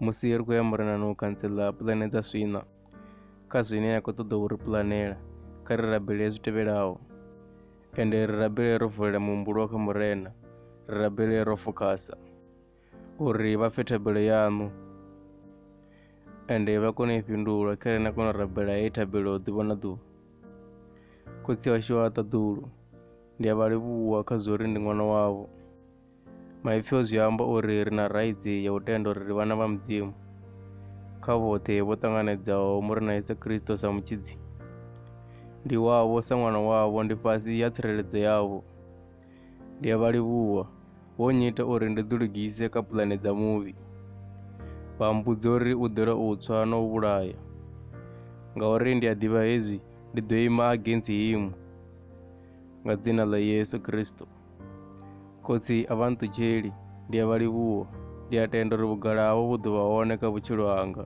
musi ri khou ya murenani u kantsela pulane dza swina kha zwine ya khou ṱoḓa u ri pulanela kha ri rabele zwi tevhelaho ende ri rabele ro vulela muhumbulo kha murena ri rabele ro fokhasa uri vha pfe thabelo yaṋu ende vha kone u i fhindula kha ri na kona u rabela heyi thabelo ḓuvha na ḓuvha khotsi washu wa ṱaḓulu ndi a vha livhuwa kha zwo ri ndi ṅwana wavho Maipfi o zwi amba uri ri na raitsi ya u tenda uri ri vhana vha Mudzimu. Kha vhoṱhe vho ṱanganedzaho mu ri na Yesu Kristo sa mutshidzi. Ndi wavho sa ṅwana wavho ndi fhasi ya tsireledzo yavho. Ndi a vha livhuwa, vho nnyita uri ndi ḓilugise kha pulane dza muvhi. Vha mbudza uri u ḓela u tswa na u vhulaya. Ngauri ndi a ḓivha hezwi, ndi ḓo ima agensi himu. Nga dzina ḽa Yesu Kristo. Khotsi a vha nṱutsheli, ndi a vha livhuwa. Ndi a tenda uri vhugala havho vhu ḓo vha hone kha vhutshilo hanga.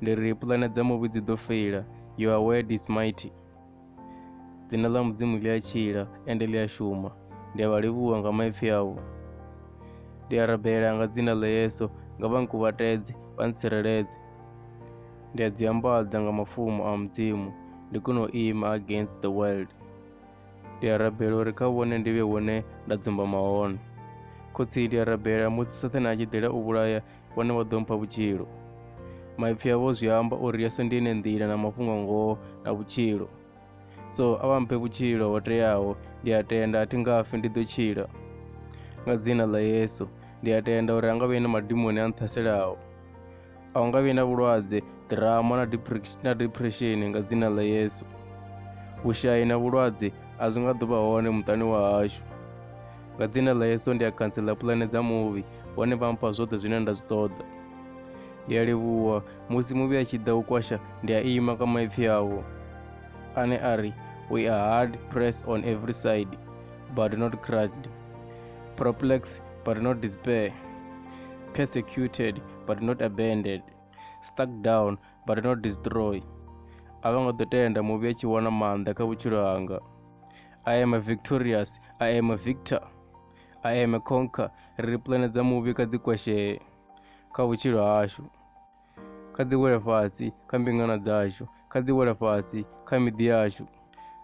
Ndi ri pulane dza muvhi dzi ḓo feila, your word is mighty. Dzina ḽa Mudzimu ḽi a tshila, ende ḽi a shuma. Ndi a vha livhuwa nga maipfi avho. Ndi a rabela nga dzina ḽa Yesu, nga vha nkuvhatedze, vha ntsireledze. Ndi a dzi ambadza nga mafumo a Mudzimu, ndi kone u ima against the world. Ndi a rabela uri kha vhone ndi vhe hune nda dzumbama hone. Khotsi, ndi a rabela musi Sathane a tshi ḓela u vhulaya, vhone vha ḓo mpha vhutshilo. Maipfi avho zwi amba uri Yesu ndi ene nḓila na mafhungo a ngoho na vhutshilo. So, a vha mphe vhutshilo ho teaho, ndi a tenda, a thi nga fi, ndi ḓo tshila. Nga dzina ḽa Yesu, ndi a tenda uri ha nga vhe na madimoni a nṱhaselaho. a u nga vhi na vhulwadze ḓirama na depression na depression nga dzina ḽa Yesu vhushayi na vhulwadze a zwi nga ḓo vha hone muṱani wa hashu nga dzina ḽa Yesu ndi a khantsela pulane dza muvhi hone vha mpha zwoṱhe zwine nda zwi ṱoḓa ndi a livhuwa musi muvhi a tshi ḓa u kwasha ndi a ima kha maipfi awo ane a ri we are hard pressed on every side but not crushed perplexed but not despair persecuted but not abandoned stuck down but not destroyed a vho ngo ḓo tenda muvhi a tshi wana maanḓa kha vhutshilo hanga i am a victorious i am a victor i am a conquer ri ri pulane dza muvhi kha dzi kwashee kha vhutshilo hashu kha dzi wele fhasi kha mbingano dzashu kha dzi wele fhasi kha miḓi yashu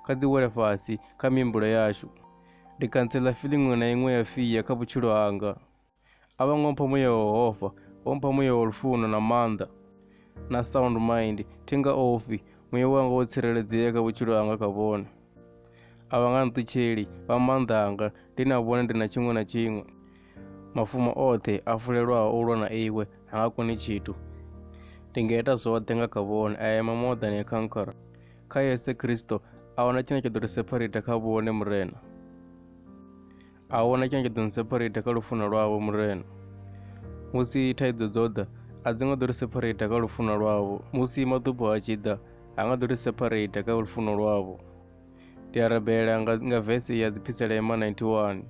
kha dzi wele fhasi kha mihumbulo yashu ndi khantsela feeling iṅwe na iṅwe ya fia kha vhutshilo hanga Abang'o mphamu ya Yehova, o mphamu ya lufuno na maanḓa na sound mind. Thi nga ofhi, muya wanga wo tsireledzea kha vhutshilo hanga kha vhone. A vha nga nṱutsheli, vha maanḓa anga, ndi na vhone ndi na tshiṅwe na tshiṅwe. Mafumo oṱhe a fulelwaho u lwa na iwe ha nga koni tshithu. Ndi nga ita zwoṱhe nga kha vhone, I am more than a conqueror. Kha Yesu Kristo, a huna tshine tsha ḓo ri sepharita kha vhone Murena. a hu na tshine tsha ḓo ni sephareitha kha lufuno lwavho murena musi thaidzo dzo ḓa a dzi nga ḓo ri sephareitha kha lufuno lwavho musi maḓubo a tshi ḓa a nga ḓo ri sephareitha kha lufuno lwavho ndi a rabela nga, nga vese ya dziphiselema 91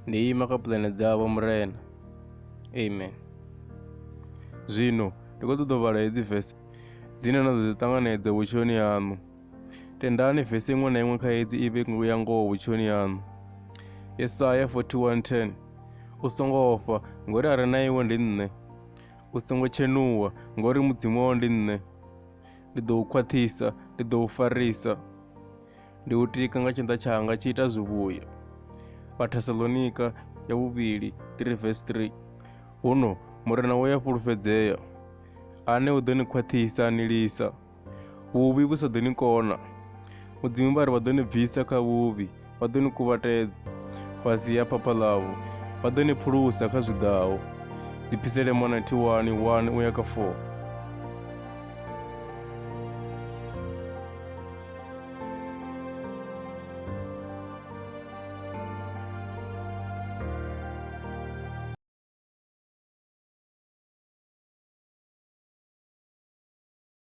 ndi ima kha pulane dzavho murena amen zwino ndi khou ṱoḓa u vhala hedzi vese dzine na ḓo dzi ṱanganedza vhutshoni haṋu Tendani vese iṅwe na iṅwe kha hedzi i vhe ya ngoho vhutshoni haṋu. Yesaya 41:10 U songo ofha, ngori a re na iwe ndi nṋe. U songo tshenuwa, ngori mudzimu wao ndi nṋe. Ndi ḓo u khwaṱhisa, ndi ḓo u farisa. Ndi u tika nga tshanḓa tshanga tshi ita zwivhuya. Vhathesalonika ya vhuvhili 3 vesi 3 Huno murena wo ya fhulufhedzea, ane u ḓo ni khwaṱhisa a ni lisa. Vhuvhi vhu sa ḓo ni kona. Mudzimu vha ri vha ḓo ni bvisa kha vhuvhi, vha ḓo ni kuvhatedza fhasi ha phapha ḽavho, vha ḓo ni phulusa kha zwiḓaho. Dzipisele mona 1 1 u ya kha 4.